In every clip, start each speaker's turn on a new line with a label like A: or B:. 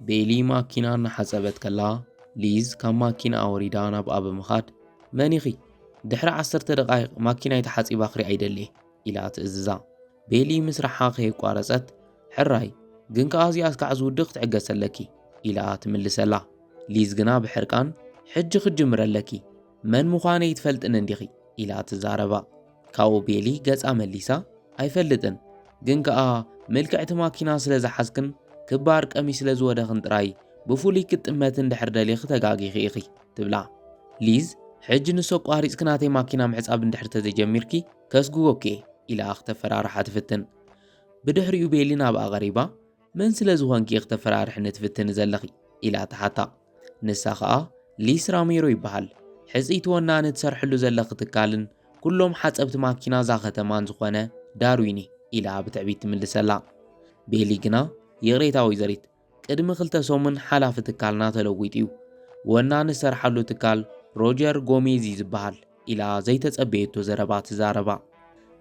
A: ቤሊ ማኪና እናሓፀበት ከላ ሊዝ ካብ ማኪና ኣወሪዳ ናብኣ ብምኻድ መን ኢኺ ድሕሪ ዓሰርተ ደቃይቕ ማኪናይ ተሓፂባ ክሪኣ ይደልየ ኢላ ትእዝዛ ቤሊ ምስራሓ ከየቋረፀት ሕራይ ግን ከዓ እዚኣ እስካዕ ዝውድእ ክትዕገስ ኣለኪ ኢላ ትምልሰላ ሊዝ ግና ብሕርቃን ሕጂ ክጅምረ ኣለኪ መን ምዃነ ይትፈልጥን እንዲኺ ኢላ ትዛረባ ካብኡ ቤሊ ገጻ መሊሳ ኣይፈልጥን ግን ከኣ ምልክዕቲ ማኪና ስለ ዝሓዝክን ክባር ቀሚ ስለ ዝወደኽን ጥራይ ብፍሉይ ክትጥመት እንድሕር ደሊኺ ተጋጊኺ ኢኺ ትብላ ሊዝ ሕጂ ንሶ ኣቋሪጽኪ ናተይ ማኪና ምሕጻብ እንድሕር ተዘጀሚርኪ ከስግጎኪ እየ ኢላ ክተፈራርሓ ትፍትን ብድሕሪኡ ቤሊ ናብኣ ቐሪባ መን ስለ ዝኾንኪ ክተፈራርሕኒ ትፍትኒ ዘለኺ? ኢላ ትሓታ። ንሳ ኸኣ ሊስ ራሜሮ ይበሃል። ሕጽይቲ ወናኒ ትሰርሕሉ ዘለኺ ትካልን ኩሎም ሓጸብቲ ማኪና እዛ ከተማን ዝኾነ ዳርዊን እየ ኢላ ብትዕቢት ትምልሰላ። ቤሊ ግና ይቕሬታ ወይዘሪት፣ ቅድሚ ክልተ ሰሙን ሓላፊ ትካልና ተለዊጡ እዩ። ወናኒ ዝሰርሓሉ ትካል ሮጀር ጎሜዝ እዩ ዝበሃል። ኢላ ዘይተጸበየቶ ዘረባ ትዛረባ።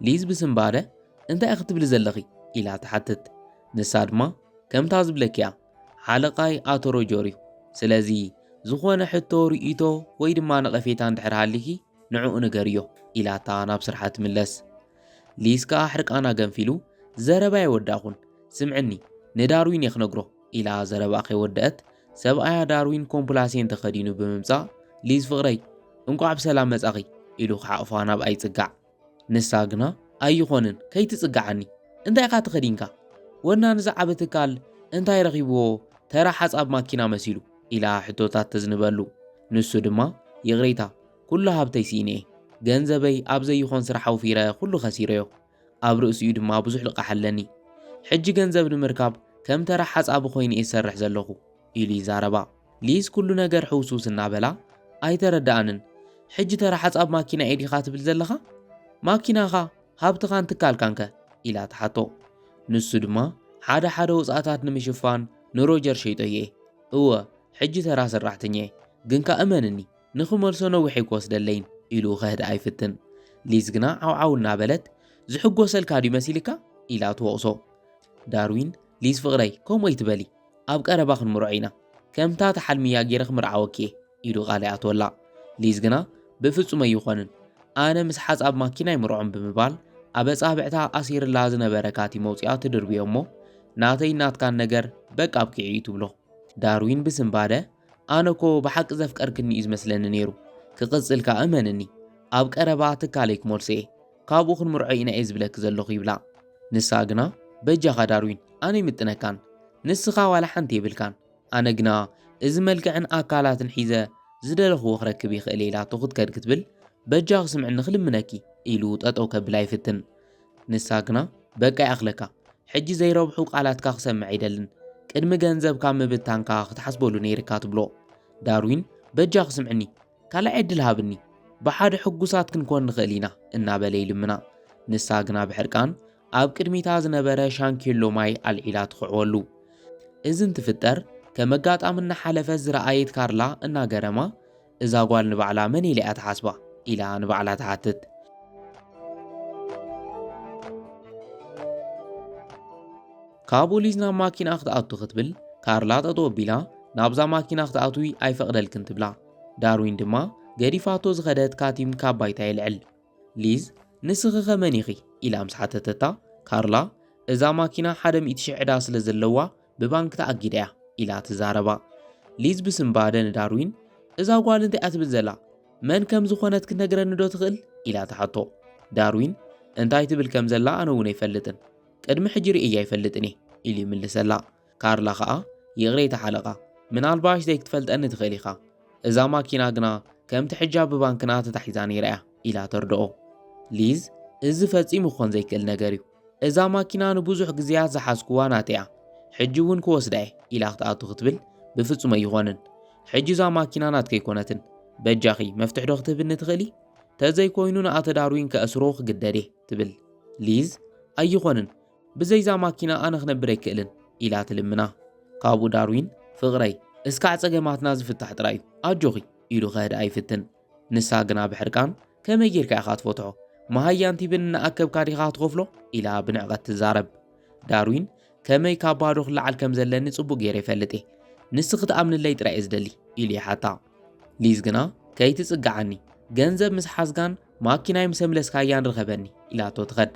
A: ሊዝ ብስንባደ እንታይ ክትብሊ ዘለኺ? ኢላ ትሓትት። ንሳ ድማ ከምታ ዝብለኪ'ያ፣ ሓለቓይ ኣቶ ሮጀር'ዩ፣ ስለዚ ዝኾነ ሕቶ፣ ርእይቶ ወይ ድማ ነቐፌታ እንድሕር ሃሊኪ ንዕኡ ንገርዮ፣ ኢላታ ናብ ስርሓ ትምለስ። ሊዝ ከኣ ሕርቃና ገንፊሉ፣ ዘረባ ኣይወዳእኹን፣ ስምዕኒ ንዳርዊን'የ ክነግሮ፣ ኢላ ዘረባኣ ከይወደኣት ሰብኣያ ዳርዊን ኮምፕላሴን ተኸዲኑ ብምምጻእ ሊዝ ፍቕረይ እንቋዕ ብሰላም መጻኺ ኢሉ ክሓቕፋ ናብኣ ይጽጋዕ። ንሳ ግና ኣይኾንን ከይትጽግዓኒ እንታይ ኢኻ ተኸዲንካ ወናኒ እዚ ዓቢ ትካል እንታይ ረኺብዎ ተራ ሓጻብ ማኪና መሲሉ ኢላ ሕቶታት ተዝንበሉ ንሱ ድማ ይቕሬታ ኩሉ ሃብተይ ስኢነ'የ ገንዘበይ ኣብ ዘይኾን ስራሕ ኣውፊረ ኩሉ ከሲረዮ ኣብ ርእሲኡ ድማ ብዙሕ ልቓሕ ኣለኒ። ሕጂ ገንዘብ ንምርካብ ከም ተራ ሓጻቢ ኰይነ'የ ዝሰርሕ ዘለኹ፣ ኢሉ ይዛረባ። ሊዝ ኵሉ ነገር ሕውስውስ እናበላ፣ ኣይተረድኣንን። ሕጂ ተራ ሓጻብ ማኪና'የ ዲኻ ትብል ዘለኻ? ማኪናኻ፣ ሃብትኻን ትካልካንከ? ኢላ ትሓቶ። ንሱ ድማ፣ ሓደ ሓደ ወጻእታት ንምሽፋን ንሮጀር ሸይጦዮ'የ። እወ፣ ሕጂ ተራ ሰራሕተኛ'የ፣ ግን ከኣ እመንኒ! ንኽመልሶ ነዊሕ ኣይክወስደለይን ኢሉ ከህድኣ ይፍትን። ሊዝ ግና ዓውዓው እናበለት ዝሕጎሰልካ ድዩ መሲልካ? ኢላ ትወቕሶ። ዳርዊን፣ ሊዝ ፍቕረይ ከምኡ ኣይትበሊ፣ ኣብ ቀረባ ክንምርዖ ኢና፣ ከምታ ትሓልምያ ገይረ ክምርዓወኪ እየ ኢሉ ቃል ይኣትወላ። ሊዝ ግና ብፍጹም ኣይኾንን፣ ኣነ ምስ ሓጻብ ማኪና ኣይምርዖን ብምባል ኣብ ኣጻብዕታ ኣሲርላ ዝነበረ ካቲም ኣውጺኣ ትድርብዮ እሞ ናተይን ናትካን ነገር በቃ ኣብቂዑ እዩ ትብሎ። ዳርዊን ብስንባደ ኣነ እኮ ብሓቂ ዘፍቀርክኒ እዩ ዝመስለኒ ነይሩ ክቕጽል ከኣ እመንኒ ኣብ ቀረባ ትካለይ ክመልሶ እየ ካብኡ ክንምርዖ ኢና እየ ዝብለኪ ዘለኹ ይብላ ንሳ ግና በጃኻ ዳርዊን ኣነ ይምጥነካን ንስኻ ዋላ ሓንቲ የብልካን ኣነ ግና እዚ መልክዕን ኣካላትን ሒዘ ዝደለኽዎ ክረክብ ይኽእል ኢላቶ ክትከድ ክትብል በጃኺ ስምዕኒ ክልምነኪ ኢሉ ጠጠው ከብላ ይፍትን ንሳ ግና በቃ ይኣኽለካ፣ ሕጂ ዘይረብሑ ቃላትካ ክሰምዕ ኣይደልን፣ ቅድሚ ገንዘብካ ምብታንካ ክትሓስበሉ ነይርካ ትብሎ። ዳርዊን በጃኺ ስምዕኒ፣ ካልኣይ ዕድል ሃብኒ፣ ብሓደ ሕጉሳት ክንኮን ንኽእል ኢና እናበለ ይልምና። ንሳ ግና ብሕርቃን ኣብ ቅድሚታ ዝነበረ ሻንኬሎ ማይ ኣልዒላ ትኽዕወሉ። እዚ እንትፍጠር ከም ኣጋጣሚ እናሓለፈት ዝረኣየት ካርላ እናገረማ እዛ ጓል ንባዕላ መን ኢላ'ያ ትሓስባ? ኢላ ንባዕላ ትሓትት። ካብኡ ሊዝ ናብ ማኪና ክትኣቱ ክትብል ካርላ ጠጠው ኣቢላ ናብዛ ማኪና ክትኣትዊ ኣይፈቕደልክን ትብላ። ዳርዊን ድማ ገዲፋቶ ዝኸደት ካቲም ካብ ባይታ የልዕል። ሊዝ ንስኺኸ መን ኢኺ? ኢላ ምስ ሓተተታ ካርላ እዛ ማኪና ሓደ ሚእቲ ሽሕ ዕዳ ስለ ዘለዋ ብባንክ ተኣጊዳ እያ ኢላ ትዛረባ። ሊዝ ብስንባደ ንዳርዊን፣ እዛ ጓል እንታይ እያ ትብል ዘላ? መን ከም ዝኾነት ክትነግረኒዶ ትኽእል? ኢላ ትሓቶ። ዳርዊን፣ እንታይ ትብል ከም ዘላ ኣነ እውን ኣይፈልጥን። ቅድሚ ሕጂ ርእየያ ኣይፈልጥን እየ፣ ኢሉ ይምልሰላ። ካርላ ኸኣ፣ ይቕሬታ ሓለቓ፣ ምናልባሽ ዘይክትፈልጠኒ ትኽእል ኢኻ። እዛ ማኪና ግና ከምቲ ሕጃ ብባንክና ተታሒዛ ነይራ እያ፣ ኢላ ተርድኦ። ሊዝ፣ እዚ ፈጺሙ ክኾን ዘይክእል ነገር እዩ። እዛ ማኪና ንብዙሕ ግዜያት ዝሓዝኩዋ ናተያ ሕጂ እውን ክወስዳ እየ ኢላ ክትኣቱ ክትብል ብፍጹም ኣይኾንን ሕጂ እዛ ማኪና ናትከ ኣይኮነትን በጃኺ መፍትሕ ዶ ክትህብኒ ትኽእሊ ተዘይኮይኑ ንኣተ ዳርዊን ከእስሮ ክግደድ እየ ትብል ሊዝ ኣይኾንን ብዘይዛ ማኪና ኣነ ክነብር ኣይክእልን ኢላ ትልምና ካብኡ ዳርዊን ፍቕረይ እስካዕ ጸገማትና ዝፍታሕ ጥራይ እዩ ኣጆኺ ኢሉ ከህድኣ ይፍትን ንሳ ግና ብሕርቃን፣ ከመይ ጌርካ ኢኻ ትፈትሖ? መሃያን ቲብን እናኣከብካ ዲኻ ትኸፍሎ? ኢላ ብንዕቐት ትዛረብ። ዳርዊን፣ ከመይ ካብ ባዶ ክለዓል ከም ዘለኒ ጽቡቕ ገይረ ይፈልጥ እየ። ንሲ ክትኣምንለይ ጥራይ እየ ዝደሊ፣ ኢሉ ይሓታ። ሊዝ ግና፣ ከይትጽግዓኒ፣ ገንዘብ ምስ ሓዝካን ማኪናይ ምስ ኣምለስካያን ርኸበኒ፣ ኢላቶ ትኸድ።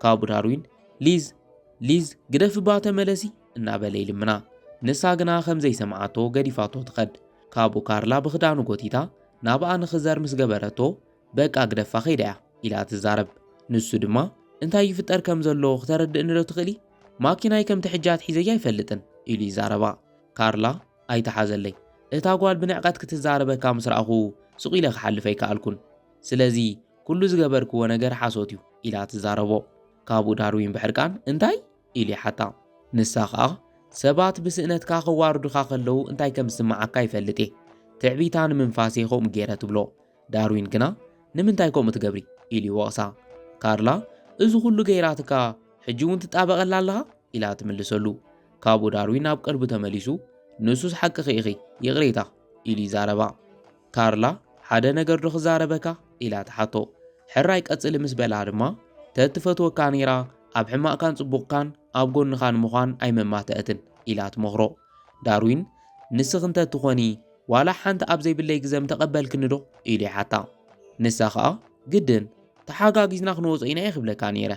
A: ካብኡ ዳርዊን፣ ሊዝ! ሊዝ! ግደፊ እባ ተመለሲ! እናበለ ይልምና። ንሳ ግና ከም ዘይሰምዓቶ ገዲፋቶ ትኸድ። ካብኡ ካርላ ብኽዳኑ ጎቲታ ናብኣ ንኽዘር ምስ ገበረቶ፣ በቃ ግደፋ ከይዳ እያ ኢላ ትዛረብ። ንሱ ድማ እንታይ ይፍጠር ከም ዘሎ ክተረድእኒዶ ትኽእሊ? ማኪናይ ከምቲ ሕጂ ኣትሒዘያ ኣይፈልጥን ኢሉ ይዛረባ። ካርላ ኣይትሓዘለይ፣ እታ ጓል ብንዕቀት ክትዛረበካ ምስ ረኣኹ ስቕ ኢለ ክሓልፍ ኣይከኣልኩን። ስለዚ ኩሉ ዝገበርክዎ ነገር ሓሶት እዩ ኢላ ትዛረቦ። ካብኡ ዳርዊን ብሕርቃን እንታይ? ኢሉ ይሓታ። ንሳ ኸኣ፣ ሰባት ብስእነትካ ኸዋርዱኻ ኸለዉ እንታይ ከም ዝስምዓካ ይፈልጥ እየ። ትዕቢታ ንምንፋስ እየ ኸምኡ ገይረ ትብሎ። ዳርዊን ግና፣ ንምንታይ ከምኡ ትገብሪ? ኢሉ ይወቕሳ። ካርላ፣ እዚ ዅሉ ገይራትካ ሕጂ እውን ትጣበቐላ ኣለኻ? ኢላ ትምልሰሉ። ካብኡ ዳርዊን ናብ ቀልቡ ተመሊሱ፣ ንሱስ ሓቅኺ ኢኺ፣ ይቕሬታ! ኢሉ ይዛረባ። ካርላ ሓደ ነገር ዶ ክዛረበካ? ኢላ ትሓቶ። ሕራይ ቀጽሊ ምስ በላ ድማ፣ ተትፈትወካ ነይራ ኣብ ሕማቕካን ጽቡቕካን ኣብ ጎንኻ ንምዃን ኣይመማተእትን ኢላ ትመኽሮ። ዳርዊን ንስኺ እንተ ትኾኒ ዋላ ሓንቲ ኣብ ዘይብለይ ግዘ ምተቐበልክኒ ዶ? ኢሉ ይሓታ። ንሳ ከኣ ግድን ተሓጋጊዝና ክንወጾ ኢና ኢየ ክብለካ ነይረ።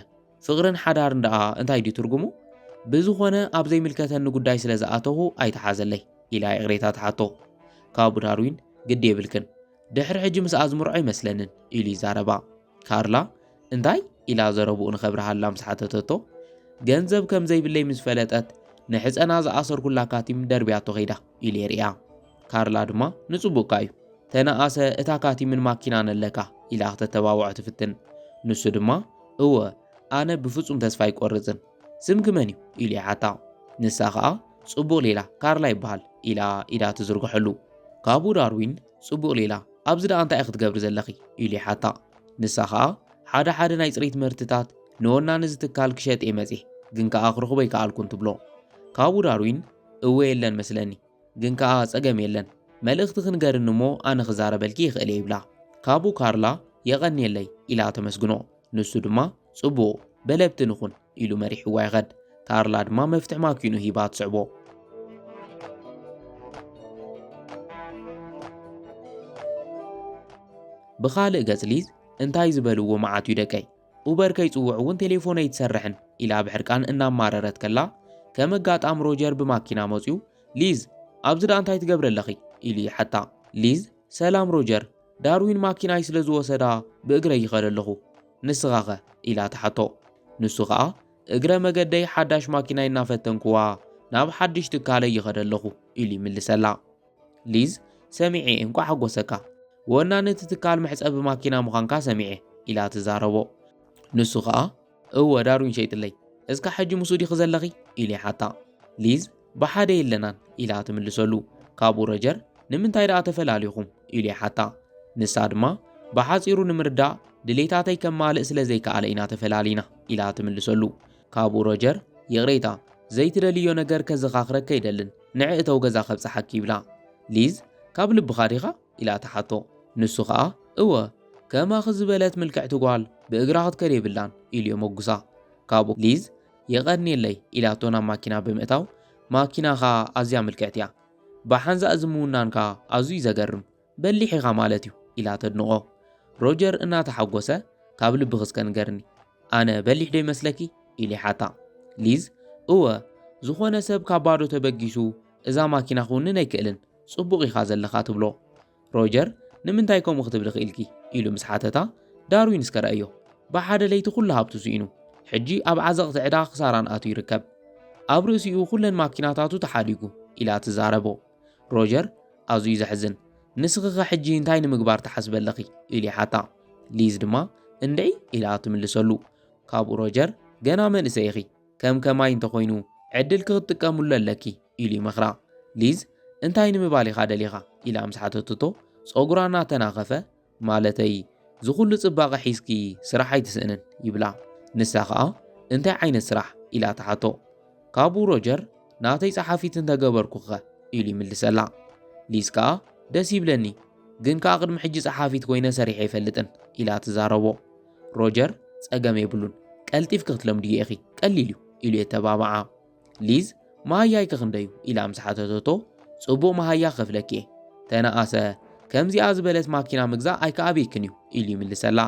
A: ፍቕርን ሓዳርን ደኣ እንታይ ድዩ ትርጉሙ? ብዝኾነ ኣብ ዘይምልከተኒ ጉዳይ ስለ ዝኣተኹ ኣይተሓዘለይ ኢላ ይቕሬታ ትሓቶ። ካቡ ዳርዊን ግዲ የብልክን ድሕሪ ሕጂ ምስ ኣዝምሮ ኣይመስለንን ኢሉ ይዛረባ። ካርላ እንታይ ኢላ ዘረብኡ ንኸብርሃላ ምስ ሓተተቶ ገንዘብ ከም ዘይብለይ ምስ ፈለጠት ንሕፀና ዝኣሰርኩላ ካቲም ደርብያቶ ከይዳ። ኢሌርያ ካርላ ድማ ንጽቡቕካ እዩ ተነኣሰ እታ ካቲምን ማኪና ነለካ ኢላ ክተተባብዖ ትፍትን ንሱ ድማ እወ ኣነ ብፍጹም ተስፋ ኣይቆርጽን ስምኪ መን እዩ ኢሉ ይሓታ ንሳ ኸኣ ጽቡቕ ሌላ ካርላ ይበሃል ኢላ ኢዳ ትዝርግሐሉ ካብኡ ዳርዊን ጽቡቕ ሌላ ኣብዚ ደኣ እንታይ ክትገብሪ ዘለኺ ኢሉ ይሓታ ንሳ ኸኣ ሓደ ሓደ ናይ ጽሬት ምህርትታት ንወናኒ ዝትካል ክሸጥ እየ መጽሔ ግን ከኣ ክረኽቦ ኣይከኣልኩን ትብሎ ካብኡ ዳርዊን እወ የለን መስለኒ ግን ከኣ ጸገም የለን መልእኽቲ ክንገርኒ እሞ ኣነ ክዛረበልኪ ይኽእልየ ይብላ ካብኡ ካርላ የቐንየለይ ኢላ ተመስግኖ ንሱ ድማ ጽቡቕ በለብቲ ንኹን ኢሉ መሪሕዋ ይኸድ ካርላ ድማ መፍትሕ ማኪኑ ሂባ ትስዕቦ ብኻልእ ገጽ ሊዝ እንታይ ዝበልዎ መዓት እዩ ደቀይ ኡበር ከይጽውዕ እውን ቴሌፎን ኣይትሰርሕን ኢላ ብሕርቃን እናማረረት ከላ ከም ኣጋጣም ሮጀር ብማኪና መጽዩ ሊዝ ኣብዚ ደኣ እንታይ ትገብሪ ኣለኺ ኢሉ ይሓታ ሊዝ ሰላም ሮጀር ዳርዊን ማኪናይ ስለ ዝወሰዳ ብእግረይ ይኸደ ኣለኹ ንስኻኸ ኢላ ትሓቶ ንሱ ኸኣ እግረ መገደይ ሓዳሽ ማኪናይ እናፈተንኩዋ ናብ ሓድሽ ትካለይ ይኸደ ኣለኹ ኢሉ ይምልሰላ ሊዝ ሰሚዔ እንኳዕ ሓጎሰካ ወናኒ እቲ ትካል መሕፀቢ ማኪና ምዃንካ ሰሚዔ ኢላ ትዛረቦ ንሱ ከዓ እወ ዳሩኝ ሸይጥለይ እስካ ሕጂ ምስኡ ዲኺ ዘለኺ ኢሉ ይሓታ ሊዝ ብሓደ የለናን ኢላ ትምልሰሉ ካብኡ ረጀር ንምንታይ ደኣ ተፈላሊኹም ኢሉ ይሓታ ንሳ ድማ ብሓፂሩ ንምርዳእ ድሌታተይ ከማልእ ስለ ዘይከኣለ ኢና ተፈላሊና ኢላ ትምልሰሉ ካብኡ ሮጀር ይቕሬታ ዘይትደልዮ ነገር ከዘኻኽረከ ኣይደልን ንዒ እተው ገዛ ከብጽሓኪ ይብላ። ሊዝ ካብ ልብኻ ዲኻ? ኢላ ትሓቶ። ንሱ ኸኣ እወ ከማኺ ዝበለት ምልክዕቲ ጓል ብእግራ ክትከድ የብላን ኢሉ የመጉሳ። ካብኡ ሊዝ የቐንየለይ ኢላቶ ናብ ማኪና ብምእታው ማኪናኻ ኣዝያ ምልክዕቲ እያ። ብሓንሳእ እዚ ምውናንካ ኣዝዩ እዩ ዘገርም። በሊሕ ኢኻ ማለት እዩ ኢላ ተድንቖ። ሮጀር እናተሓጎሰ ካብ ልብኺ እስከ ንገርኒ፣ ኣነ በሊሕ ዶ ይመስለኪ? ኢሉ ይሓታ። ሊዝ እወ፣ ዝኾነ ሰብ ካብ ባዶ ተበጊሱ እዛ ማኪና ክውንን ኣይክእልን፣ ጽቡቕ ኢኻ ዘለኻ ትብሎ። ሮጀር ንምንታይ ከምኡ ክትብሊ ክኢልኪ? ኢሉ ምስ ሓተታ፣ ዳርዊን እስከ ረኣዮ፣ ብሓደ ለይቲ ኩሉ ሃብቱ ስኢኑ፣ ሕጂ ኣብ ዓዘቕቲ ዕዳ ክሳራን ኣትዩ ይርከብ። ኣብ ርእሲኡ ኩለን ማኪናታቱ ተሓዲጉ ኢላ ትዛረቦ። ሮጀር፣ ኣዝዩ ዘሕዝን፣ ንስኺኸ ሕጂ እንታይ ንምግባር ትሓስቢ ኣለኺ? ኢሉ ይሓታ። ሊዝ ድማ እንድዒ ኢላ ትምልሰሉ። ካብኡ ሮጀር፣ ገና መንእሰይ ኢኺ፣ ከም ከማይ እንተኾይኑ ዕድልኪ ክትጥቀምሉ ኣለኪ ኢሉ ይመኽራ። ሊዝ፣ እንታይ ንምባል ኢኻ ደሊኻ? ኢላ ምስ ሓተተቶ፣ ጸጉራ እናተናኸፈ፣ ማለተይ ዝኹሉ ጽባቐ ሒዝኪ ስራሕ ኣይትስእንን ይብላ። ንሳ ከኣ እንታይ ዓይነት ስራሕ ኢላ ትሓቶ። ካብኡ ሮጀር ናተይ ጸሓፊት እንተገበርኩኸ ኢሉ ይምልሰላ። ሊዝ ከኣ ደስ ይብለኒ ግን ከኣ ቅድሚ ሕጂ ጸሓፊት ኮይነ ሰሪሐ ኣይፈልጥን ኢላ ትዛረቦ። ሮጀር ጸገም የብሉን ቀልጢፍኪ ክትለምድዮ ኢኺ ቀሊል እዩ ኢሉ የተባብዓ። ሊዝ መሃያይ ከክንደዩ ኢላ ምስ ሓተተቶ ጽቡቕ መሃያ ከፍለኪ እየ ተነኣሰ ከምዚኣ ዝበለት ማኪና ምግዛእ ኣይከኣበይክን እዩ ኢሉ ይምልሰላ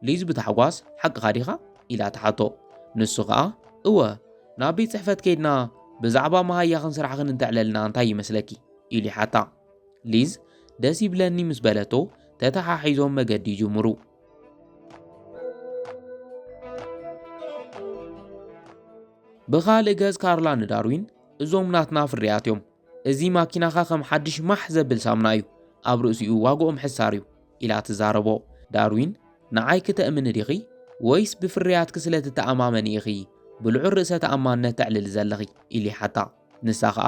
A: ሊዝ ብታሕጓስ ሓቅኻ ዲኻ ኢላ ተሓቶ ንሱ ኸኣ እወ ናብ ቤት ጽሕፈት ከይድና ብዛዕባ መሃያኽን ስራሕኽን እንተዕለልና እንታይ ይመስለኪ ኢሉ ይሓታ ሊዝ ደስ ይብለኒ ምስ በለቶ ተተሓሒዞም መገዲ ይጅምሩ ብኻልእ ገጽ ካርላ ንዳርዊን እዞም ናትና ፍርያት እዮም፣ እዚ ማኪናኻ ከም ሓድሽ ማሕ ዘብል ሳምና እዩ፣ ኣብ ርእሲኡ ዋግኦም ሕሳር እዩ ኢላ ትዛረቦ። ዳርዊን ንዓይ ክተእምኒ ዲኺ ወይስ ብፍርያትኪ ስለ ትተኣማመኒ ኢኺ ብልዑል ርእሰ ተኣማንነት ተዕልሊ ዘለኺ? ኢሉ ይሓታ። ንሳ ኸኣ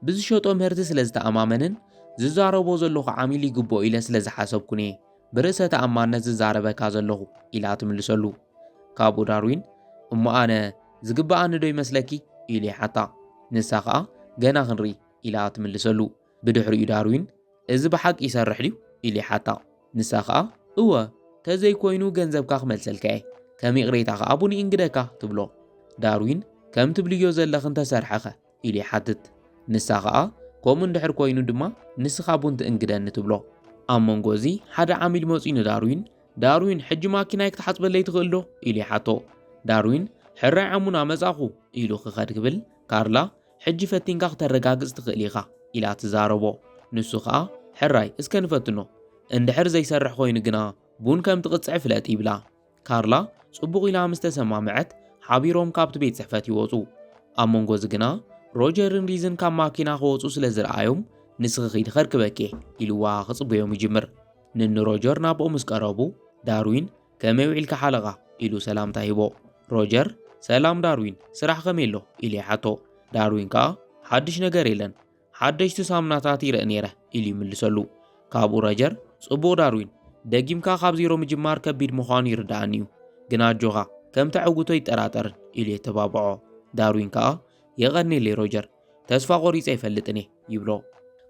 A: ብዝሸጦ ምህርቲ ስለ ዝተኣማመንን ዝዛረቦ ዘለኹ ዓሚል ይግብኦ ኢለ ስለ ዝሓሰብኩን እየ ብርእሰ ተኣማንነት ዝዛረበካ ዘለኹ ኢላ ትምልሰሉ። ካብኡ ዳርዊን እሞ ኣነ ዝግብኣኒ ዶ ይመስለኪ ኢሉ ይሓታ። ንሳ ከኣ ገና ክንርኢ ኢላ ትምልሰሉ። ብድሕሪኡ ዳርዊን እዚ ብሓቂ ይሰርሕ ድዩ ኢሉ ይሓታ። ንሳ ከኣ እወ ተዘይኮይኑ ገንዘብካ ክመልሰልካ እየ ከም ይቕሬታ ከኣ ቡን ይእንግደካ ትብሎ። ዳርዊን ከም ትብልዮ ዘለኺ እንተሰርሐኸ ኢሉ ይሓትት። ንሳ ከኣ ከምኡ እንድሕር ኮይኑ ድማ ንስኻ ቡን ትእንግደኒ ትብሎ። ኣብ መንጎ እዚ ሓደ ዓሚል መጺኡ ንዳርዊን ዳርዊን ሕጂ ማኪናይ ክትሓጽበለይ ትኽእል ዶ? ኢሉ ይሓቶ። ዳርዊን ሕራይ ዓሙና መጻኹ ኢሉ ክኸድ ክብል ካርላ ሕጂ ፈቲንካ ክተረጋግጽ ትኽእል ኢኻ ኢላ ትዛረቦ። ንሱ ከኣ ሕራይ እስከ ንፈትኖ እንድሕር ዘይሰርሕ ኮይኑ ግና ቡን ከም ትቕጽዒ ፍለጥ ይብላ። ካርላ ጽቡቕ ኢላ ምስ ተሰማምዐት ሓቢሮም ካብቲ ቤት ጽሕፈት ይወጹ። ኣብ መንጎ እዚ ግና ሮጀርን ሪዝን ካብ ማኪና ክወጹ ስለ ዝረኣዮም ንስኺ ኺዲ ከርክበኪ ኢልዋ ክጽበዮም ይጅምር። ንኒ ሮጀር ናብኡ ምስ ቀረቡ ዳርዊን ከመይ ውዒልካ ሓለቓ ኢሉ ሰላምታ ሂቦ። ሮጀር ሰላም ዳርዊን ስራሕ ከመይ ኣሎ ኢሉ ይሓቶ። ዳርዊን ከኣ ሓድሽ ነገር የለን ሓደሽቲ ሳሙናታት ይርኢ ነይረ ኢሉ ይምልሰሉ። ካብኡ ረጀር፣ ጽቡቕ ዳርዊን፣ ደጊምካ ካብ ዜሮ ምጅማር ከቢድ ምዃኑ ይርድኣኒ እዩ፣ ግን ኣጆኻ፣ ከም ተዕውቶ ይጠራጠርን ኢሉ የተባብዖ። ዳርዊን ከኣ የቐኔለይ ሮጀር፣ ተስፋ ቆሪጸ ኣይፈልጥን እየ ይብሎ።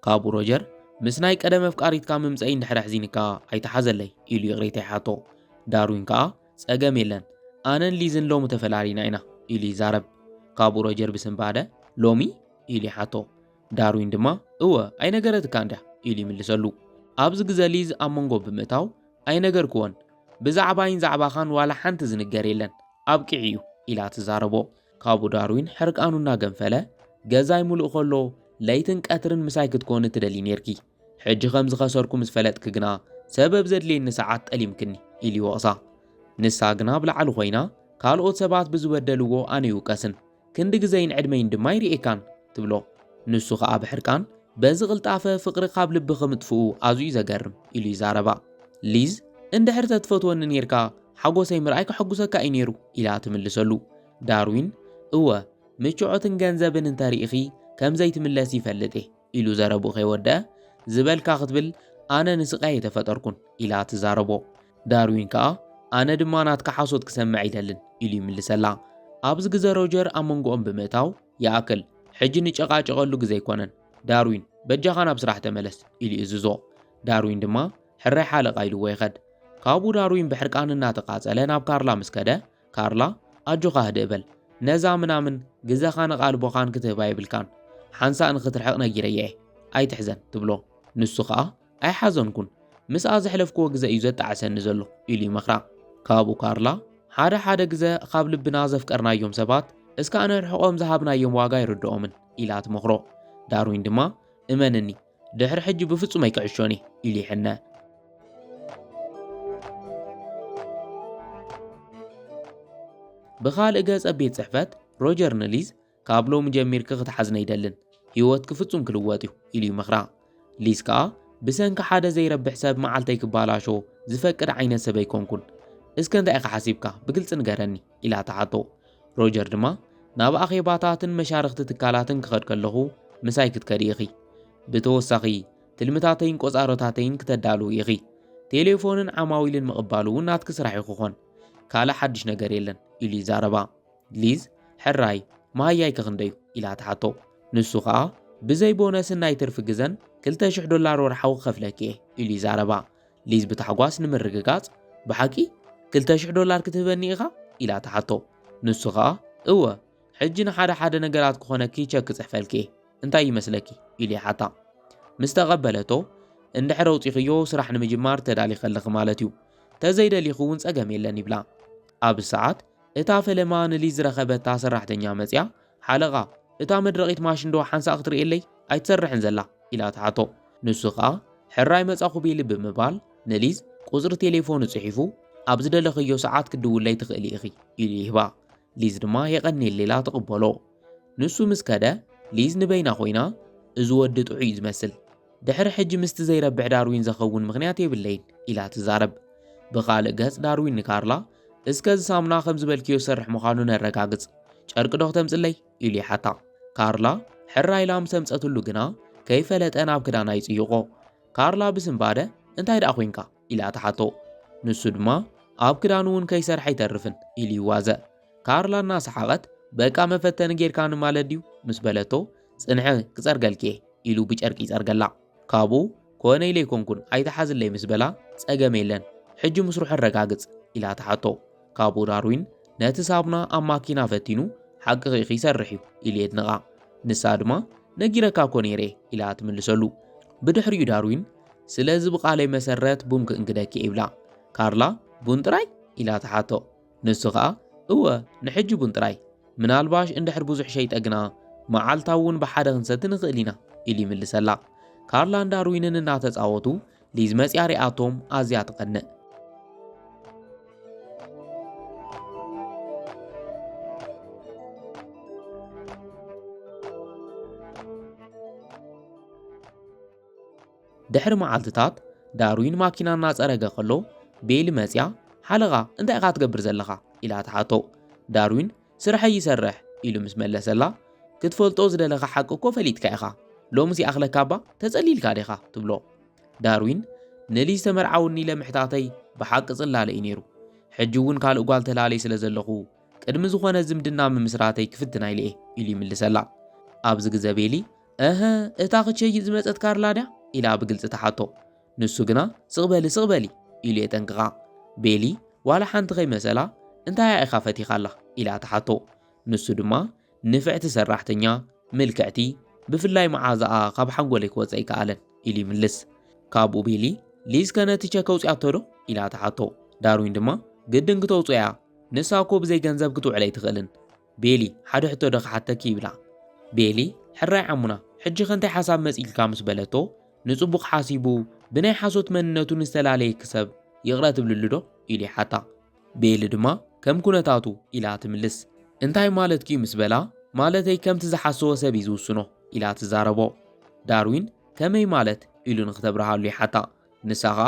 A: ካብኡ ሮጀር ምስ ናይ ቀደም ኣፍቃሪትካ ምምጸኢ እንድሕር ኣሕዚንካ ኣይትሓዘለይ ኢሉ ይቕሬታ ይሓቶ። ዳርዊን ከኣ ጸገም የለን ኣነን ሊዝን ሎሚ ተፈላሊና ኢና ኢሉ ይዛረብ። ካብኡ ሮጀር ብስንባደ ሎሚ ኢሉ ይሓቶ። ዳርዊን ድማ እወ ኣይነገረትካን ድያ ኢሉ ይምልሰሉ። ኣብዚ ግዘ ሊዝ ኣብ መንጎ ብምእታው ኣይነገርክዎን፣ ብዛዕባይን ዛዕባኻን ዋላ ሓንቲ ዝንገር የለን፣ ኣብቂዑ እዩ ኢላ ትዛረቦ። ካብኡ ዳርዊን ሕርቃኑ እናገንፈለ ገዛይ ሙሉእ ከሎ ለይትን ቀትርን ምሳይ ክትኮኒ ትደልዪ ኔርኪ፣ ሕጂ ከም ዝኸሰርኩ ምስ ፈለጥኪ ግና ሰበብ ዘድልየኒ ሰዓት ጠሊምክኒ ኢሉ ይወቕሳ። ንሳ ግና ኣብ ላዕሊ ኮይና ካልኦት ሰባት ብዝበደልዎ ኣነ ይውቀስን ክንዲ ግዘይን ዕድመይን ድማ ኣይርእየካን ትብሎ። ንሱ ኸኣ ብሕርቃን በዚ ቅልጣፈ ፍቕሪ ካብ ልብኺ ምጥፍኡ ኣዝዩ ዘገርም ኢሉ ይዛረባ። ሊዝ እንድሕር ተትፈትወኒ ኔርካ ሓጎሰይ ምርኣይ ከሐጉሰካ እዩ ኔሩ ኢላ ትምልሰሉ። ዳርዊን እወ ምችዖትን ገንዘብን እንተሪኢኺ ከምዘይትምለሲ ይፈልጥ እየ። ኢሉ ዘረብኡ ከይወደኣ፣ ዝበልካ ክትብል ኣነ ንስቃይ ኣይተፈጠርኩን ኢላ ትዛረቦ። ዳርዊን ከኣ ኣነ ድማ ናትካ ሓሶት ክሰምዕ ኣይደልን ኢሉ ይምልሰላ። ኣብዚ ግዘ ሮጀር ኣብ መንጎኦም ብምእታው፣ ይኣክል ሕጂ ንጨቃጨቀሉ ግዘ ኣይኮነን፣ ዳርዊን በጃኻ ናብ ስራሕ ተመለስ ኢሉ ይእዝዞ። ዳርዊን ድማ ሕራይ ሓለቓ ኢልዎ ይኸድ። ካብኡ ዳርዊን ብሕርቃን እናተቃጸለ ናብ ካርላ ምስ ከደ፣ ካርላ ኣጆኻ ህድእ በል ነዛ ምናምን ግዘኻን ኣቓልቦኻን ክትህባ የብልካን ሓንሳእ ንኽትርሕቕ ነጊረያ እየ ኣይትሕዘን ትብሎ ንሱ ኸኣ ኣይሓዘንኩን ምስኣ ዘሕለፍክዎ ግዘ እዩ ዘጣዕሰኒ ዘሎ ኢሉ ይመኽራ ካብኡ ካርላ ሓደ ሓደ ግዘ ኻብ ልብና ዘፍቀርናዮም ሰባት እስካዕ ነርሕቖም ዝሃብናዮም ዋጋ ኣይርድኦምን ኢላ ትመኽሮ ዳርዊን ድማ እመንኒ ድሕሪ ሕጂ ብፍጹም ኣይክዕሾን እየ ኢሉ ይሕነ። ብኻልእ ገጽ ኣብ ቤት ጽሕፈት ሮጀር ንሊዝ ካብ ሎሚ ጀሚርኪ ክትሓዝነ ኣይደልን ህይወትኪ ፍጹም ክልወጥ እዩ ኢሉ ይምኽራ ሊዝ ከኣ ብሰንኪ ሓደ ዘይረብሕ ሰብ መዓልተይ ክባላሾ ዝፈቅድ ዓይነት ሰብ ኣይኮንኩን እስከ እንታይ ኢኻ ሓሲብካ ብግልጺ ንገረኒ ኢላ ትሓቶ። ሮጀር ድማ ናብ ኣኼባታትን መሻርኽቲ ትካላትን ክኸድ ከለኹ ምሳይ ክትከዲ ኢኺ። ብተወሳኺ ትልምታተይን ቆጻሮታተይን ክተዳልዊ ኢኺ። ቴሌፎንን ዓማዊልን ምቕባል እውን ናትኪ ስራሕ እዩ ክኾን። ካልእ ሓድሽ ነገር የለን ኢሉ ይዛረባ። ሊዝ ሕራይ መሃያይ ከክንደዩ ኢላ ትሓቶ። ንሱ ከኣ ብዘይ ቦነስን ናይ ትርፊ ግዘን ክልተ ሽሕ ዶላር ወርሓዊ ክኸፍለኪ እየ ኢሉ ይዛረባ። ሊዝ ብታሕጓስ ንምርግጋጽ፣ ብሓቂ ክልተ ሽሕ ዶላር ክትህበኒ ኢኻ? ኢላ ትሓቶ። ንሱ ኸኣ፣ እወ፣ ሕጂ ንሓደ ሓደ ነገራት ክኾነኪ ቸክ ክጽሕፈልኪ እየ፣ እንታይ ይመስለኪ? ኢሉ ይሓታ። ምስ ተቐበለቶ፣ እንድሕር ኣውጺኽዮ ስራሕ ንምጅማር ተዳሊኺ ኣለኺ ማለት እዩ፣ እንተ ዘይደሊኺ እውን ጸገም የለን ይብላ። ኣብዚ ሰዓት፣ እታ ፈለማ ንሊዝ ዝረኸበታ ሰራሕተኛ መጺኣ ሓለቓ፣ እታ መድረቒት ማሽንዶ ሓንሳእ ክትርእየለይ ኣይትሰርሕን ዘላ? ኢላ ትሓቶ። ንሱ ከኣ ሕራይ መጻኹ ቢሊ ብምባል ንሊዝ ቁጽሪ ቴሌፎኑ ጽሒፉ ኣብ ዝደለኽዮ ሰዓት ክትድውለይ ትኽእሊ ኢኺ ኢሉ ይህባ። ሊዝ ድማ የቐንየለይ ኢላ ትቕበሎ። ንሱ ምስ ከደ ሊዝ ንበይና ኮይና እዚ ወዲ ጥዑይ እዩ ዝመስል ድሕሪ ሕጂ ምስቲ ዘይረብሕ ዳርዊን ዘኸውን ምኽንያት የብለይን ኢላ ትዛረብ። ብኻልእ ገጽ ዳርዊን ንካርላ፣ እስከ እዚ ሳሙና ከም ዝበልክዮ ዝሰርሕ ምዃኑ ነረጋግጽ፣ ጨርቂ ዶ ክተምጽለይ? ኢሉ ይሓታ። ካርላ ሕራይ ኢላ ምስ ኣምጸትሉ ግና ከይፈለጠ ናብ ክዳና ይጽይቖ። ካርላ ብስንባደ እንታይ ደኣ ኮንካ? ኢላ ትሓቶ። ንሱ ድማ ኣብ ክዳኑ እውን ከይሰርሐ ኣይተርፍን ኢሉ ይዋዘ። ካርላ እናሰሓቐት በቃ መፈተኒ ጌርካኒ ማለት ድዩ? ምስ በለቶ ጽንሒ ክጸርገልኪ'የ ኢሉ ብጨርቂ ይጸርገላ። ካብኡ ኮነ ኢለ ኣይኮንኩን ኣይትሓዝለይ ምስ በላ ጸገም የለን ሕጂ ምስርሑ ኣረጋግጽ ኢላ ትሓቶ። ካብኡ ዳርዊን ነቲ ሳቡና ኣብ ማኪና ፈቲኑ ሓቅኺ ኢኺ ይሰርሕ'ዩ ኢሉ የድንቓ። ንሳ ድማ ነጊረካ እኮ ነይረ'የ ኢላ ትምልሰሉ። ብድሕሪኡ ዳርዊን ስለዚ ብቃለይ መሰረት ቡን ክእንግደኪ'የ ይብላ። ካርላ ቡን ጥራይ? ኢላ ትሓቶ። ንሱ ኸኣ እወ ንሕጂ ቡን ጥራይ፣ ምናልባሽ እንድሕር ብዙሕ ሸይጠ ግና መዓልታዊ እውን ብሓደ ክንሰቲ ንኽእል ኢና ኢሉ ይምልሰላ። ካርላን ዳርዊንን እናተጻወቱ ሊዝ መጺኣ ሪኣቶም ኣዝያ ትቐንእ። ድሕሪ መዓልትታት ዳርዊን ማኪና እናጸረገ ከሎ ቤይሊ መጽያ ሓለቓ እንታይ ኢኻ ትገብር ዘለኻ ኢላ ትሓቶ ዳርዊን ስርሐይ ይሰርሕ ኢሉ ምስ መለሰላ ክትፈልጦ ዝደለኻ ሓቂ እኮ ፈሊጥካ ኢኻ ሎምስ ይኣኽለካ እባ ተጸሊልካ ዲኻ ትብሎ ዳርዊን ንልጅ ዝተመርዓውኒ ኢለ ምሕታተይ ብሓቂ ጽላለ እዩ ነይሩ ሕጂ እውን ካልእ ጓል ተላለይ ስለ ዘለኹ ቅድሚ ዝኾነ ዝምድና ምምስራተይ ክፍትና ኢለ እየ ኢሉ ይምልሰላ ኣብዚ ግዘ ቤሊ እህ፣ እታ ክቸይጥ ዝመጸት ካርላ ድያ? ኢላ ብግልጺ ትሓቶ። ንሱ ግና ስቕ በሊ ስቕ በሊ ኢሉ የጠንቅቓ። ቤሊ ዋላ ሓንቲ ከይመሰላ እንታይ'ያ ኢኻ ፈቲኻላ? ኢላ ትሓቶ። ንሱ ድማ ንፍዕቲ ሰራሕተኛ፣ ምልክዕቲ፣ ብፍላይ መዓዛኣ ካብ ሓንጎለይ ክወጽእ ኣይከኣለን ኢሉ ይምልስ። ካብኡ ቤሊ ሊዝ ከ ነቲ ቸክ ኣውጺኣቶ ዶ? ኢላ ትሓቶ። ዳርዊን ድማ ግድን ክተውጽኦ እያ፣ ንሳ እኮ ብዘይ ገንዘብ ክትውዕል ኣይትኽእልን። ቤሊ፣ ሓደ ሕቶ ዶ ክሓተኪ? ይብላ። ቤሊ፣ ሕራይ ዓሙና፣ ሕጂኸ እንታይ ሓሳብ መጺኡልካ? ምስ በለቶ፣ ንጽቡቕ ሓሲቡ ብናይ ሓሶት መንነቱ ንዝተላለየኪ ሰብ ይቕረ ትብልሉ ዶ? ኢሉ ይሓታ። ቤሊ ድማ፣ ከም ኩነታቱ ኢላ ትምልስ። እንታይ ማለትኪ'ዩ? ምስ በላ፣ ማለተይ ከምቲ ዝሓሰዎ ሰብ'ዩ ዝውስኖ ኢላ ትዛረቦ። ዳርዊን፣ ከመይ ማለት? ኢሉ ንኽተብርሃሉ ይሓታ። ንሳኻ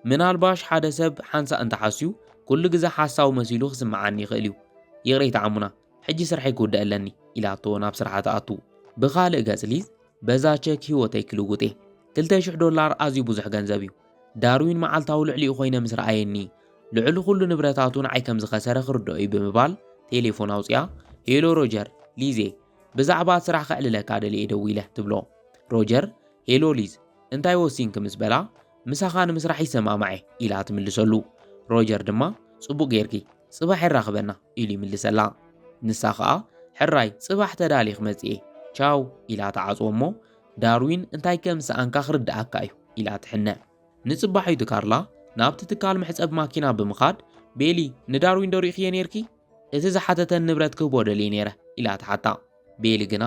A: ምናልባሽ ሓደ ሰብ ሓንሳእ እንተሓስዩ ኩሉ ግዘ ሓሳዊ መሲሉ ክስምዓኒ ይኽእል እዩ ይቕሬታ ዓሙና ሕጂ ስርሐይ ክውድእ ኣለኒ ኢላቶ ናብ ስርሓ ትኣቱ ብኻልእ ገጽ ሊዝ በዛ ቸክ ህይወተይ ክልውጥ እየ ክልተ ሽሕ ዶላር ኣዝዩ ብዙሕ ገንዘብ እዩ ዳርዊን መዓልታዊ ልዕሊኡ ኮይነ ምስ ረኣየኒ ልዕሊ ኩሉ ንብረታቱ ንዓይ ከም ዝኸሰረ ክርድኦ እዩ ብምባል ቴሌፎን ኣውፅያ ሄሎ ሮጀር ሊዜ ብዛዕባ ስራሕ ከዕልለካ ደልየ ደዊለ ትብሎ ሮጀር ሄሎ ሊዝ እንታይ ወሲንኪ ምስ በላ፣ ምሳኻ ንምስራሕ ይሰማማዕ'የ ኢላ ትምልሰሉ። ሮጀር ድማ፣ ጽቡቕ ጌርኪ፣ ጽባሕ የራኽበና ኢሉ ይምልሰላ። ንሳ ኸኣ፣ ሕራይ፣ ጽባሕ ተዳልየ ክመጽእ'የ፣ ቻው ኢላ ትዓጽዎ'ሞ፣ ዳርዊን እንታይ ከም ዝሰኣንካ ክርድኣካ'ዩ ኢላ ትሕነ። ንጽባሒቱ ካርላ ናብቲ ትካል መሕጸቢ ማኪና ብምኻድ፣ ቤሊ፣ ንዳርዊን'ዶ ሪእኽዮ ኔርኪ? እቲ ዝሓተተኒ ንብረት ክህቦ ደልየ ኔረ ኢላ ትሓታ። ቤሊ ግና፣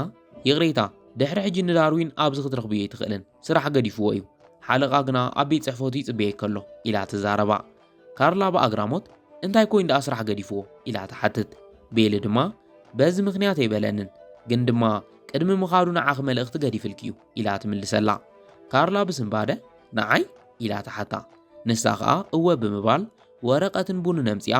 A: ይቕሬታ፣ ድሕሪ ሕጂ ንዳርዊን ኣብዚ ክትረኽብዮ ኣይትኽእልን፣ ስራሕ ገዲፍዎ እዩ፣ ሓለቓ ግና ኣብ ቤት ጽሕፈቱ ይጽበየኪ ኣሎ ኢላ ትዛረባ። ካርላ ብኣግራሞት፣ እንታይ ኰይኑ ደኣ ስራሕ ገዲፍዎ? ኢላ ትሓትት። ቤሊ ድማ፣ በዚ ምኽንያት ኣይበለንን፣ ግን ድማ ቅድሚ ምኻዱ ንዓኺ መልእኽቲ ገዲፍልኪ እዩ ኢላ ትምልሰላ። ካርላ ብስንባደ፣ ንዓይ? ኢላ ትሓታ። ንሳ ኸኣ እወ ብምባል ወረቐትን ቡንን ኣምጺኣ፣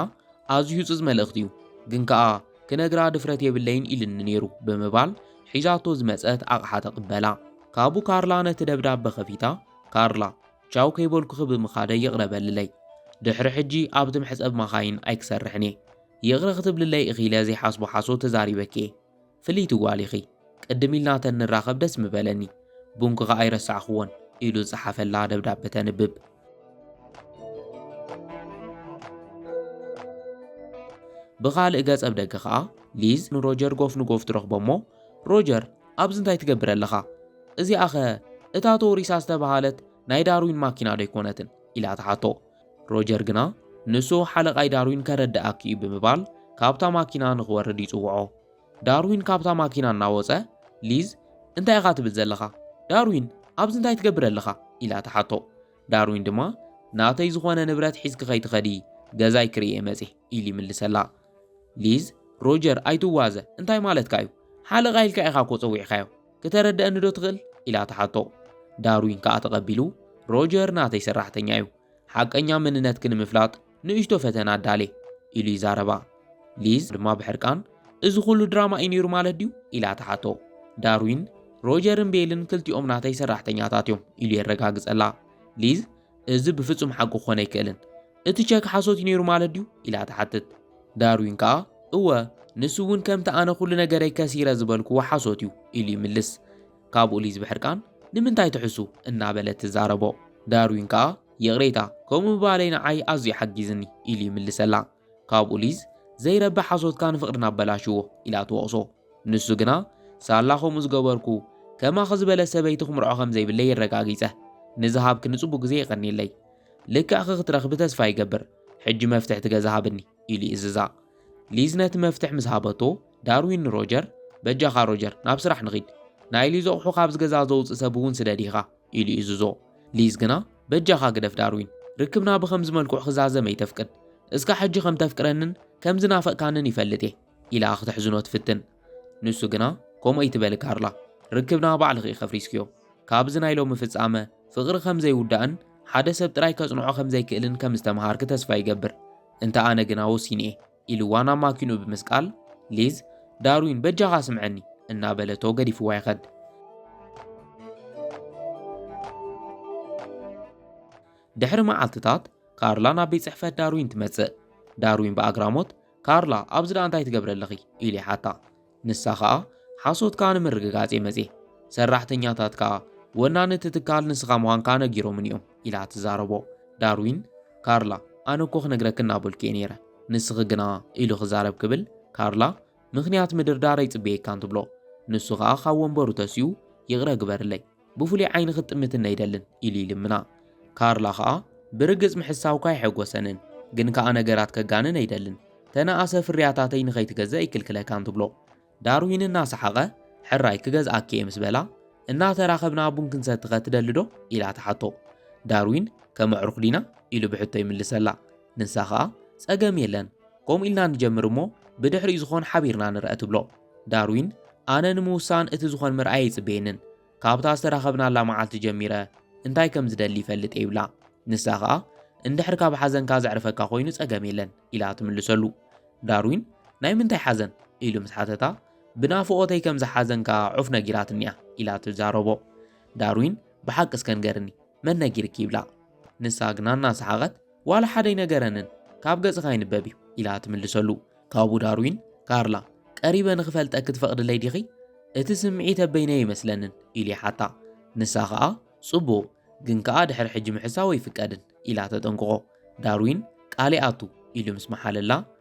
A: ኣዝዩ ህጹጽ መልእኽቲ እዩ፣ ግን ከኣ ክነግራ ድፍረት የብለይን ኢልኒ ነይሩ ብምባል ሒዛቶ ዝመጸት ኣቕሓ ተቕበላ። ካቡ ካርላ ነቲ ደብዳበ ከፊታ፣ ካርላ፣ ቻው ከይበልኩኺ ብምኻደይ ይቕረ በልለይ። ድሕሪ ሕጂ ኣብቲ መሕጸቢ ማኻይን ኣይክሰርሕን እየ። ይቕረ ክትብልለይ እኺለ ዘይሓስቦ ሓሶት ተዛሪበኪ እየ። ፍልይቲ ጓል ኢኺ። ቅድም ኢልና ተንራኸብ ደስ ምበለኒ፣ ቡንክኻ ኣይረሳዕክዎን ኢሉ ዝጸሓፈላ ደብዳበ ተንብብ። ብኻልእ ገጽ ኣብ ደገ ኸኣ ሊዝ ንሮጀር ጎፍ ንጎፍ ትረኽቦ'ሞ ሮጀር ኣብዚ እንታይ ትገብር ኣለኻ? እዚኣኸ እታ ቶሪሳ ዝተበሃለት ናይ ዳርዊን ማኪና ዶ ኣይኮነትን? ኢላ ትሓቶ። ሮጀር ግና ንሱ ሓለቓይ ዳርዊን ከረድኣኪ'ዩ ብምባል ካብታ ማኪና ንኽወርድ ይጽውዖ። ዳርዊን ካብታ ማኪና እናወጸ፣ ሊዝ፣ እንታይ ኢኻ ትብል ዘለኻ? ዳርዊን፣ ኣብዚ እንታይ ትገብር ኣለኻ? ኢላ ትሓቶ። ዳርዊን ድማ፣ ናተይ ዝኾነ ንብረት ሒዝኪ ከይትኸዲ፣ ገዛይ ክርኢ እየ መጺእ፣ ኢሉ ይምልሰላ። ሊዝ፣ ሮጀር ኣይትዋዘ፣ እንታይ ማለትካ እዩ? ሓለቓይ ኢልካ ኢኻ እኮ ጸዊዕካዮ፣ ክተረድኣኒዶ ትኽእል? ኢላ ትሓቶ። ዳርዊን ከኣ ተቐቢሉ፣ ሮጀር ናተይ ሰራሕተኛ እዩ፣ ሓቀኛ መንነትኪ ንምፍላጥ ንእሽቶ ፈተና ኣዳልየ፣ ኢሉ ይዛረባ። ሊዝ ድማ ብሕርቃን፣ እዚ ዅሉ ድራማ እዩ ነይሩ ማለት ድዩ? ኢላ ትሓቶ። ዳርዊን፣ ሮጀርን ቤልን ክልቲኦም ናተይ ሰራሕተኛታት እዮም፣ ኢሉ የረጋግጸላ። ሊዝ፣ እዚ ብፍጹም ሓቂ ክዀን ኣይክእልን። እቲ ቸክ ሓሶት እዩ ነይሩ ማለት ድዩ? ኢላ ትሓትት። ዳርዊን ከኣ፣ እወ፣ ንሱ እውን ከምቲ ኣነ ኵሉ ነገረይ ከሲረ ዝበልክዎ ሓሶት እዩ፣ ኢሉ ይምልስ። ካብኡ ሊዝ ብሕርቃን ንምንታይ ትሕሱ እናበለ ትዛረቦ። ዳርዊን ከኣ ይቕሬታ ከምኡ ምባለይ ንዓይ ኣዝዩ ሓጊዝኒ ኢሉ ይምልሰላ። ካብኡ ሊዝ ዘይረቢ ሓሶትካ ንፍቕርና ኣበላሽዎ ኢላ ትወቕሶ። ንሱ ግና ሳላ ከምኡ ዝገበርኩ ከማኺ ዝበለት ሰበይቲ ክምርዖ ከም ዘይብለይ የረጋጊጸ። ንዝሃብክኒ ጽቡቕ ግዜ የቐንየለይ። ልክዕኺ ክትረኽቢ ተስፋ ይገብር። ሕጂ መፍትሕ እቲ ገዛ ሃብኒ ኢሉ ይእዝዛ። ሊዝ ነቲ መፍትሕ ምስ ሃበቶ፣ ዳርዊን ንሮጀር፣ በጃኻ ሮጀር፣ ናብ ስራሕ ንኺድ። ናይ ሊዝ ኣቑሑ ካብዚ ገዛ ዘውጽእ ሰብ እውን ስደድ ኢኻ፣ ኢሉ ይእዝዞ። ሊዝ ግና፣ በጃኻ ግደፍ ዳርዊን፣ ርክብና ብኸምዚ መልክዑ ክዛዘም ኣይተፍቅድ። እስካዕ ሕጂ ከም ተፍቅረንን ከም ዝናፈቕካንን ይፈልጥ እየ፣ ኢላ ክትሕዝኖ ትፍትን። ንሱ ግና፣ ከምኡ ኣይትበሊ ካርላ፣ ርክብና ባዕልኺ ኢኺ ኣፍሪስክዮ። ካብዚ ናይ ሎሚ ፍጻመ፣ ፍቕሪ ከም ዘይውዳእን ሓደ ሰብ ጥራይ ከጽንዖ ከም ዘይክእልን ከም ዝተመሃርኪ ተስፋ ይገብር። እንተ ኣነ ግና ወሲነ እየ። ኢልዋ ናብ ማኪንኡ ብምስቃል፣ ሊዝ፣ ዳርዊን በጃኻ ስምዐኒ! እናበለቶ ገዲፍዋ ይኸድ። ድሕሪ መዓልትታት ካርላ ናብ ቤት ጽሕፈት ዳርዊን ትመጽእ። ዳርዊን ብኣግራሞት፣ ካርላ፣ ኣብዚ ደኣ እንታይ ትገብሪ ኣለኺ? ኢሉ ይሓታ። ንሳ ከኣ ሓሶትካ ንምርግጋጽ እየ መጽየ። ሰራሕተኛታት ከኣ ወናኒ እቲ ትካል ንስኻ ምዃንካ ነጊሮምኒ እዮም ኢላ ትዛረቦ። ዳርዊን፣ ካርላ ኣነ እኮ ክነግረኪ እናበልኩ እየ ነይረ፣ ንስኺ ግና ኢሉ ክዛረብ ክብል ካርላ ምኽንያት ምድርዳር ኣይጽበየካን ትብሎ። ንሱ ከኣ ካብ ወንበሩ ተሲኡ ይቕረ ግበርለይ። ብፍሉይ ዓይኒ ክትጥምትኒ ኣይደልን ኢሉ ይልምና። ካርላ ከኣ ብርግጽ ምሕሳውካ ኣይሐጎሰንን ግን ከኣ ነገራት ከጋንን ኣይደልን ተነኣሰ ፍርያታተይ ንኸይትገዝእ ኣይክልክለካን ትብሎ። ዳርዊን እናሰሓቐ ሕራይ ክገዝኣኪ'የ ምስ በላ እናተራኸብና ቡን ክንሰቲኸ ትደሊዶ? ኢላ ትሓቶ። ዳርዊን ከም ኣዕሩኽ ዲና? ኢሉ ብሕቶ ይምልሰላ። ንሳ ከኣ ጸገም የለን ከምኡ ኢልና ንጀምር እሞ ብድሕሪኡ ዝኾን ሓቢርና ንርኣ ትብሎ። ዳርዊን፣ ኣነ ንምውሳን እቲ ዝኾን ምርኣይ ኣይጽበየንን። ካብታ ዝተራኸብናላ መዓልቲ ጀሚረ እንታይ ከም ዝደሊ ይፈልጥ እየ ይብላ። ንሳ ኸኣ እንድሕር ካብ ሓዘንካ ዘዕርፈካ ኮይኑ ጸገም የለን ኢላ ትምልሰሉ። ዳርዊን ናይ ምንታይ ሓዘን ኢሉ ምስ ሓተታ ብናፍቖተይ ከም ዝሓዘንካ ዑፍ ነጊራትኒ እያ ኢላ ትዛረቦ። ዳርዊን ብሓቂ እስከ ንገርኒ መን ነጊርኪ ይብላ። ንሳ ግና እናሰሓቐት ዋላ ሓደ ኣይነገረንን፣ ካብ ገጽኻ ይንበብ እዩ ኢላ ትምልሰሉ። ካብኡ ዳርዊን፣ ካርላ፣ ቀሪበ ንኽፈልጠኪ ትፈቕድለይ ዲኺ? እቲ ስምዒተ በይነይ ኣይመስለንን ኢሉ ይሓታ። ንሳ ኸኣ፣ ጽቡቕ፣ ግን ከኣ ድሕሪ ሕጂ ምሕሳው ኣይፍቀድን ኢላ ተጠንቅቖ። ዳርዊን፣ ቃል ይኣቱ ኢሉ ምስ መሓለላ፣